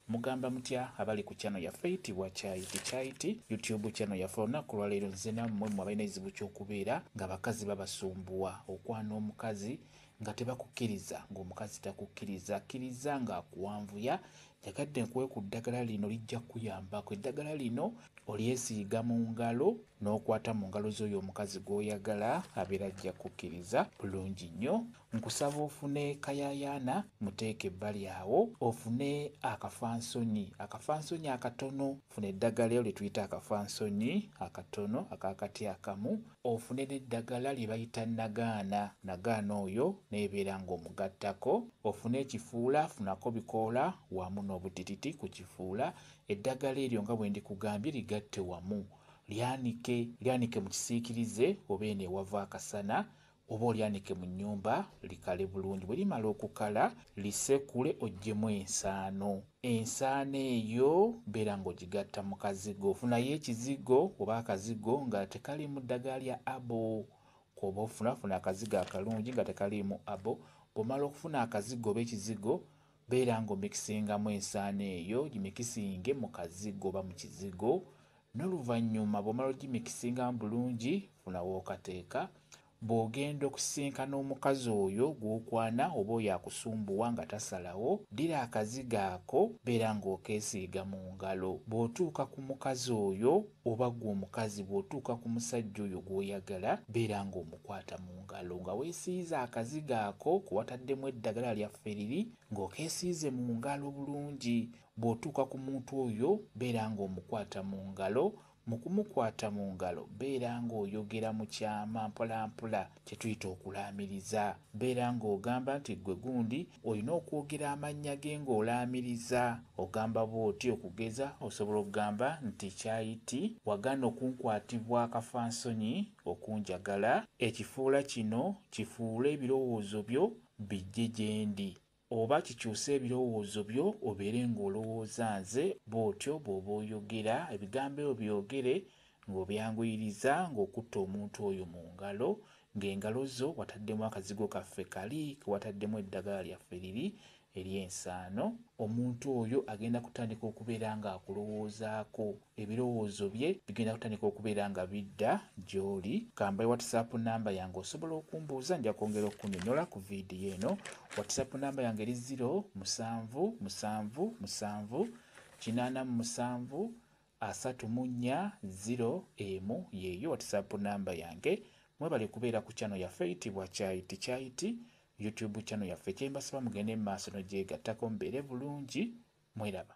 Mugamba mutya abali ku channel yaffe eyitibwa Kyayiti Kyayiti YouTube channel yaffe olunaku lwaleero nze nammwe mwe abalina ekizibu kyokubeera nga bakazi babasumbuwa okwana omukazi nga tebakukiriza nga omukazi takukiriza akiriza nga akuwanvuya njagadde nkuwe ku ddagala lino lijja kukuyambako eddagala lino olyesiiga mu ngalo n'okwata mu ngalo z'oyo omukazi gw'oyagala abeera ajja kukkiriza bulungi nnyo Nkusaba ofune kayayaana muteeke ebbali awo ofune akafansonyi akafansonyi akatono funa eddagala elo lyetuyita akafansonyi akatono akakati akamu ofune neddagala lyebayita nagaana nagaana oyo nebeera nga omugattako ofune ekifuula funako bikoola wamu nobutititi kukifuula eddagala eryo nga bwendikugambye ligatte wamu lyanike lyanike mukisiikirize oba eno ewava akasana oba olyanike mu nnyumba likale bulungi bwe limala okukala lisekule oggyemu ensaano ensaano eyo beera ng'ogigatta mu kazigo ofunayo ekizigo oba akazigo nga tekaliimu ddagala lya abo kwoba ofunafuna akazigo akalungi nga tekaliimu abo bw'omala okufuna akazigo oba ekizigo beera ng'omikisingamu ensaano eyo gimikisinge mu kazigo oba mu kizigo Noluvanyuma bwomala ogimikisinga mu bulungi funa wokateeka bwogenda okusisinkana omukazi oyo gwokwana oba oyo akusumbuwa nga tasalawo ddira akazigo ako beera nga okesiiga mu ngalo bwotuuka ku mukazi oyo oba gwe omukazi bwotuuka ku musajja oyo gwoyagala beera nga omukwata mu ngalo nga wesiize akazigo ako kewataddemu eddagala lya fferiri nga okesiize mu ngalo bulungi Bw'otuuka ku muntu oyo, beera ng'omukwata mu ngalo. Mu kumukwata mu ngalo, beera ng'oyogera mu kyama mpolampola, kye tuyita okulaamiriza. Beera ng'ogamba nti, Ggwe gundi, olina okwogera amannya ge ng'olaamiriza. Ogamba bw'oti, okugeza, osobola okugamba nti, Kyayiti, wagaana okunkwatibwa akafansonyi, okunjagala. Ekifuula kino, kifuule ebirowoozo byo bijje gye ndi. Oba kikyuse ebirowoozo byo obeere ng'olowooza nze, bw'otyo bw'oba oyogera. Ebigambo ebyo byogere ng'obyanguyiriza, ng'okutte omuntu oyo mu ngalo, ng'engalo zo wataddemu akazigo kaffe kali ke wataddemu eddagala lyaffe liri ery'ensaano. Omuntu oyo agenda kutandika okubeera ng'akulowoozaako. Ebirowoozo bye bigenda kutandika okubeera nga bidda gy'oli. Kambaye WhatsApp nnamba yange osobola okumbuuza nja kwongera okukunyonyola ku vidiyo eno. WhatsApp nnamba yange eri ziro musanvu musanvu musanvu kinaana mu musanvu asatu mu nnya ziro emu yeeyo WhatsApp nnamba yange. Mwebale kubeera ku channel yaffe eyitibwa Kyayiti Kyayiti YouTube channel yaffe. Kyembasaba mugende mu maaso n'ogyegattako mubeere bulungi. Mweraba.